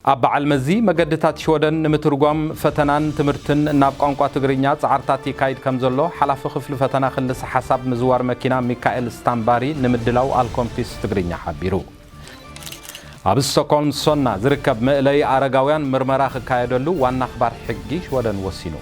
ኣብ በዓል መዚ መገድታት ሽወደን ንምትርጓም ፈተናን ትምህርትን ናብ ቋንቋ ትግርኛ ጻዕርታት ይካይድ ከምዘሎ ሓላፊ ክፍሊ ፈተና ክልሰ ሓሳብ ምዝዋር መኪና ሚካኤል ስታምባሪ ንምድላው ኣልኮምፒስ ትግርኛ ሓቢሩ። ኣብ ስቶኮልም ሶና ዝርከብ መእለዪ ኣረጋውያን ምርመራ ክካየደሉ ዋና ኣኽባር ሕጊ ሽወደን ወሲኑ።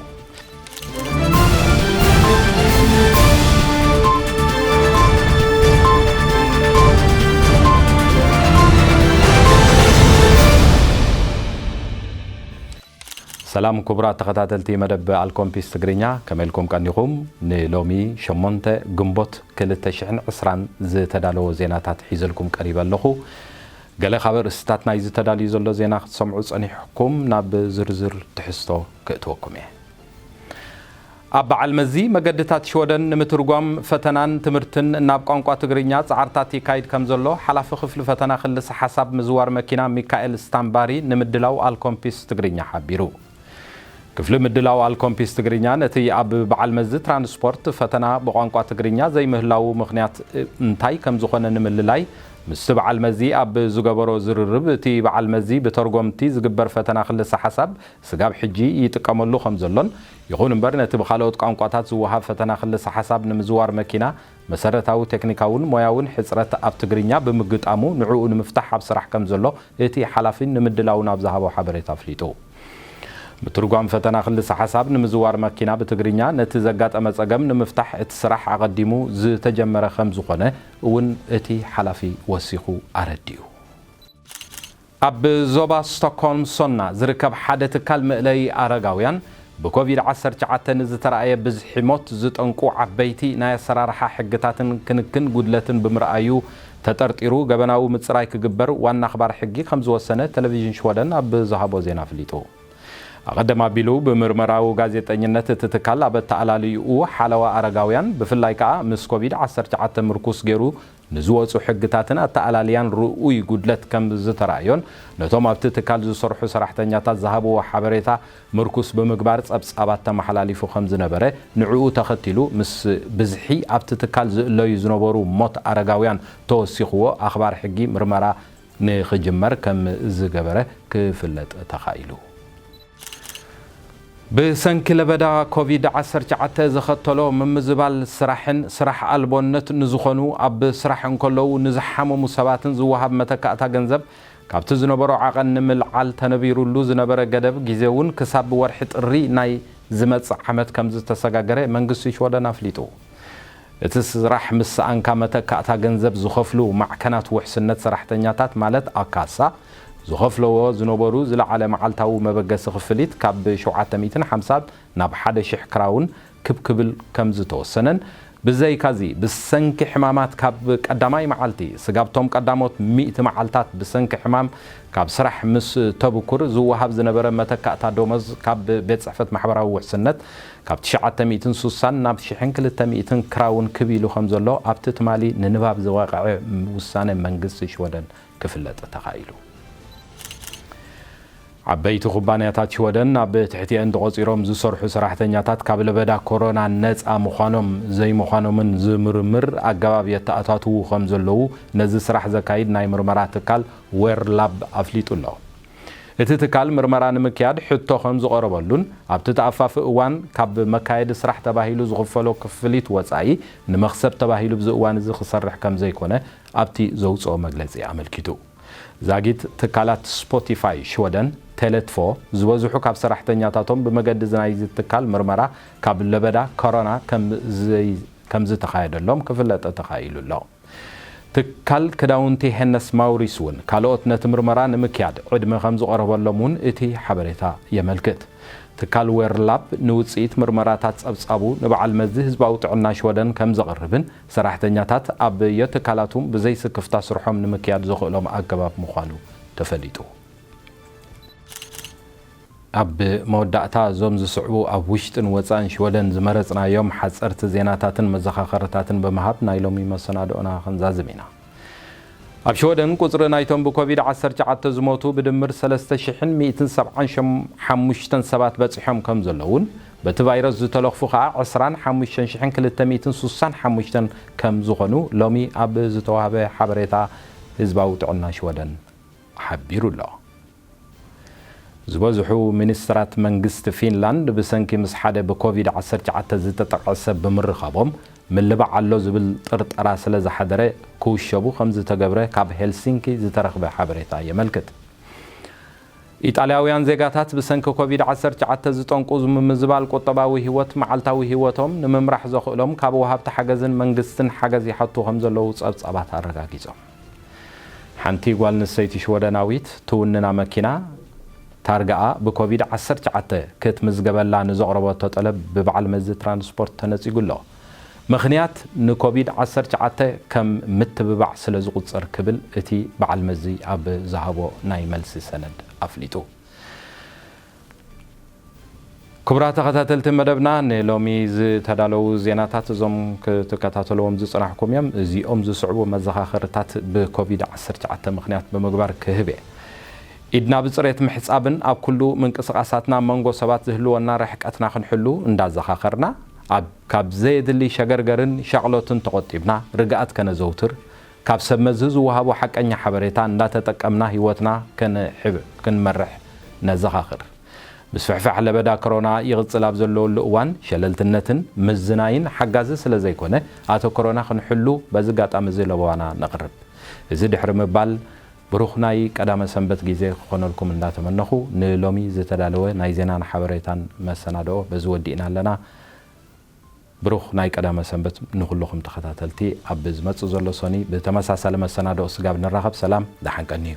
ሰላም ክቡራት ተኸታተልቲ መደብ ኣልኮምፒስ ትግርኛ ከመይ ኢልኩም ቀኒኹም? ንሎሚ 8 ግንቦት 2020 ዝተዳለወ ዜናታት ሒዘልኩም ቀሪበ ኣለኹ። ገለ ካብ ኣርእስታት ናይዚ ተዳልዩ ዘሎ ዜና ክትሰምዑ ጸኒሕኩም ናብ ዝርዝር ትሕዝቶ ክእትወኩም እየ። ኣብ በዓል መዚ መገድታት ሽወደን ንምትርጓም ፈተናን ትምህርትን ናብ ቋንቋ ትግርኛ ጻዕርታት ይካይድ ከምዘሎ ሓላፊ ክፍሊ ፈተና ክልሰ ሓሳብ ምዝዋር መኪና ሚካኤል ስታምባሪ ንምድላው ኣልኮምፒስ ትግርኛ ሓቢሩ። ክፍሊ ምድላው ኣልኮምፒስ ትግርኛ ነቲ ኣብ በዓል መዚ ትራንስፖርት ፈተና ብቋንቋ ትግርኛ ዘይምህላዉ ምኽንያት እንታይ ከምዝኾነ ንምልላይ ምስቲ በዓል መዚ ኣብ ዝገበሮ ዝርርብ እቲ በዓል መዚ ብተርጎምቲ ዝግበር ፈተና ክልሰ ሓሳብ ስጋብ ሕጂ ይጥቀመሉ ከም ዘሎን፣ ይኹን እምበር ነቲ ብኻልኦት ቋንቋታት ዝወሃብ ፈተና ክልሰ-ሓሳብ ንምዝዋር መኪና መሰረታዊ ቴክኒካውን ሞያውን ሕጽረት ኣብ ትግርኛ ብምግጣሙ ንዕኡ ንምፍታሕ ኣብ ስራሕ ከም ዘሎ እቲ ሓላፊ ንምድላውን ኣብ ዝሃቦ ሓበሬታ ኣፍሊጡ። ምትርጓም ፈተና ክልሰ-ሓሳብ ንምዝዋር መኪና ብትግርኛ ነቲ ዘጋጠመ ጸገም ንምፍታሕ እቲ ስራሕ ኣቐዲሙ ዝተጀመረ ከም ዝኾነ እውን እቲ ሓላፊ ወሲኹ ኣረዲኡ። ኣብ ዞባ ስቶክሆልም ሶልና ዝርከብ ሓደ ትካል መእለዪ ኣረጋውያን፣ ብኮቪድ ዓሰርተ ትሽዓተ ንዝተራእየ ብዝሒ ሞት ዝጠንቁ ዓበይቲ ናይ ኣሰራርሓ ሕግታትን ክንክን ጉድለትን ብምርኣዩ ተጠርጢሩ ገበናዊ ምጽራይ ክግበር ዋና ኣኽባሪ ሕጊ ከምዝወሰነ ተለቪዥን ሽወደን ኣብ ዝሃቦ ዜና ኣፍሊጡ። ኣቐድም ኣቢሉ ብምርመራዊ ጋዜጠኝነት እቲ ትካል ኣብ ኣተኣላልይኡ ሓለዋ ኣረጋውያን ብፍላይ ከኣ ምስ ኮቪድ ዓሰርተ ትሽዓተ ምርኩስ ገይሩ ንዝወጹ ሕግታትን ኣተኣላልያን ርኡይ ጉድለት ከም ዝተራእዮን ነቶም ኣብቲ ትካል ዝሰርሑ ሰራሕተኛታት ዝሃብዎ ሓበሬታ ምርኩስ ብምግባር ጸብጻባት ተመሓላሊፉ ከም ዝነበረ ንዕኡ ተኸቲሉ ምስ ብዝሒ ኣብቲ ትካል ዝእለዩ ዝነበሩ ሞት ኣረጋውያን ተወሲኽዎ ኣኽባር ሕጊ ምርመራ ንክጅመር ከም ዝገበረ ክፍለጥ ተኻኢሉ። ብሰንኪ ለበዳ ኮቪድ ዓሰርተ ትሽዓተ ዘኸተሎ ምምዝባል ስራሕን ስራሕ ኣልቦነት ንዝኾኑ ኣብ ስራሕ እንከለዉ ንዝሓመሙ ሰባትን ዝወሃብ መተካእታ ገንዘብ ካብቲ ዝነበሮ ዓቐን ንምልዓል ተነቢሩሉ ዝነበረ ገደብ ጊዜ እውን ክሳብ ወርሒ ጥሪ ናይ ዝመጽእ ዓመት ከምዝተሰጋገረ መንግስቲ ሽወደን ኣፍሊጡ። እቲ ስራሕ ምስ ሰኣንካ መተካእታ ገንዘብ ዝኸፍሉ ማዕከናት ውሕስነት ሰራሕተኛታት ማለት ኣካሳ ዝኸፍለዎ ዝነበሩ ዝለዓለ መዓልታዊ መበገሲ ክፍሊት ካብ ሸውዓተ ሚእትን ሓምሳን ናብ ሓደ ሽሕ ክራውን ክብ ክብል ከምዝተወሰነን ብዘይካዚ ብሰንኪ ሕማማት ካብ ቀዳማይ መዓልቲ ስጋብቶም ቀዳሞት ሚእቲ መዓልታት ብሰንኪ ሕማም ካብ ስራሕ ምስ ተብኩር ዝወሃብ ዝነበረ መተካእታ ደሞዝ ካብ ቤት ጽሕፈት ማሕበራዊ ውሕስነት ካብ ትሽዓተ ሚእትን ሱሳን ናብ ሽሕን ክልተ ሚእትን ክራውን ክብ ኢሉ ከምዘሎ ኣብቲ ትማሊ ንንባብ ዝወቐዐ ውሳነ መንግስቲ ሽወደን ክፍለጥ ተኻኢሉ። ዓበይቲ ኩባንያታት ሽወደን ኣብ ትሕቲኤን ተቖፂሮም ዝሰርሑ ሰራሕተኛታት ካብ ለበዳ ኮሮና ነፃ ምዃኖም ዘይምዃኖምን ዝምርምር ኣገባብ የተኣታትዉ ከምዘለዉ ነዚ ስራሕ ዘካይድ ናይ ምርመራ ትካል ዌር ላብ ኣፍሊጡ ኣሎ። እቲ ትካል ምርመራ ንምክያድ ሕቶ ከም ዝቐረበሉን ኣብቲ ተኣፋፊ እዋን ካብ መካየዲ ስራሕ ተባሂሉ ዝኽፈሎ ክፍሊት ወፃኢ ንመኽሰብ ተባሂሉ ኣብዚ እዋን እዚ ክሰርሕ ከም ዘይኮነ ኣብቲ ዘውፅኦ መግለፂ ኣመልኪቱ። ዛጊት ትካላት ስፖቲፋይ ሽወደን፣ ቴለ ትቮ፣ ዝበዝሑ ካብ ሰራሕተኛታቶም ብመገዲ ናይዚ ትካል ምርመራ ካብ ለበዳ ኮሮና ከም ዘይተኻየደሎም ክፍለጠ ተኻኢሉ ኣሎ። ትካል ክዳውንቲ ሄነስ ማውሪስ እውን ካልኦት ነቲ ምርመራ ንምክያድ ዕድመ ከም ዝቐረበሎም እውን እቲ ሓበሬታ የመልክት። ትካል ዌርላፕ ንውጽኢት ምርመራታት ጸብጻቡ ንበዓል መዚ ህዝባዊ ጥዕና ሽወደን ከም ዘቕርብን ሰራሕተኛታት ኣብ ዮትካላቱም ብዘይ ስክፍታ ስርሖም ንምክያድ ዘኽእሎም ኣገባብ ምዃኑ ተፈሊጡ። ኣብ መወዳእታ እዞም ዝስዕቡ ኣብ ውሽጥን ወጻእን ሽወደን ዝመረጽናዮም ሓጸርቲ ዜናታትን መዘኻኸርታትን ብምሃብ ናይ ሎሚ መሰናድኦና ክንዛዝም ኢና። ኣብ ሽወደን ቁጽሪ ናይቶም ብኮቪድ ዓሰርተ ትሽዓተ ዝሞቱ ብድምር ሰለስተ ሽሕን ሚእትን ሰብዓን ሓሙሽተን ሰባት በጺሖም ከም ዘለዉን በቲ ቫይረስ ዝተለኽፉ ከኣ ዕስራን ሓሙሽተን ሽሕን ክልተ ሚእትን ሱሳን ሓሙሽተን ከም ዝኾኑ ሎሚ ኣብ ዝተዋህበ ሓበሬታ ህዝባዊ ጥዕና ሽወደን ሓቢሩ ኣሎ። ዝበዝሑ ሚኒስትራት መንግስቲ ፊንላንድ ብሰንኪ ምስ ሓደ ብኮቪድ ዓሰርተ ትሽዓተ ዝተጠቕዐ ሰብ ብምርኻቦም ምልባዕ ኣሎ ዝብል ጥርጠራ ስለዝሓደረ ክውሸቡ ከምዝተገብረ ካብ ሄልሲንኪ ዝተረኽበ ሓበሬታ የመልክት። ኢጣልያውያን ዜጋታት ብሰንኪ ኮቪድ ዓሰርተ ትሽዓተ ዝጠንቁ ምምዝባል ቁጠባዊ ህይወት መዓልታዊ ህይወቶም ንምምራሕ ዘኽእሎም ካብ ወሃብቲ ሓገዝን መንግስትን ሓገዝ ይሓቱ ከምዘለዉ ጸብጻባት ኣረጋጊጾም። ሓንቲ ጓል ኣንስተይቲ ሽወደናዊት ትውንና መኪና ታርጋኣ ብኮቪድ ዓሰርተ ትሽዓተ ክትምዝገበላ ንዘቕረበቶ ጠለብ ብበዓል መዚ ትራንስፖርት ተነጺጉ ኣሎ። ምኽንያት ንኮቪድ ዓሰርተ ትሽዓተ ከም ምትብባዕ ስለ ዝቑጸር ክብል እቲ በዓል መዚ ኣብ ዝሃቦ ናይ መልሲ ሰነድ ኣፍሊጡ። ክቡራት ተኸታተልቲ መደብና ንሎሚ ዝተዳለዉ ዜናታት እዞም ክትከታተልዎም ዝጽናሕኩም እዮም። እዚኦም ዝስዕቡ መዘኻኸርታት ብኮቪድ ዓሰርተ ትሽዓተ ምኽንያት ብምግባር ክህብ እየ። ኢድና ብጽሬት ምሕጻብን ኣብ ኩሉ ምንቅስቓሳትና መንጎ ሰባት ዝህልወና ርሕቀትና ክንሕሉ እንዳዘኻኸርና ኣብ ካብ ዘየድሊ ሸገርገርን ሻቕሎትን ተቖጢብና ርግኣት ከነዘውትር ካብ ሰብ መዚ ዝወሃቦ ሓቀኛ ሓበሬታ እንዳተጠቀምና ህይወትና ክንመርሕ ነዘኻኽር። ምስፍሕፋሕ ለበዳ ከሮና ይቕጽል ኣብ ዘለወሉ እዋን ሸለልትነትን ምዝናይን ሓጋዚ ስለዘይኮነ ኣተኩሮና ክንሕሉ በዚ ኣጋጣሚ እዚ ለበዋና ነቕርብ። እዚ ድሕሪ ምባል ብሩኽ ናይ ቀዳመ ሰንበት ጊዜ ክኾነልኩም እንዳተመነኹ ንሎሚ ዝተዳለወ ናይ ዜናን ሓበሬታን መሰናድኦ በዚ ወዲእና ኣለና። ብሩኽ ናይ ቀዳመ ሰንበት ንኹሉኹም ተኸታተልቲ ኣብ ዝመጽእ ዘሎ ሰኑይ ብተመሳሳሊ መሰናድኦ ስጋብ ንራኸብ ሰላም ደሓን ቀንዩ።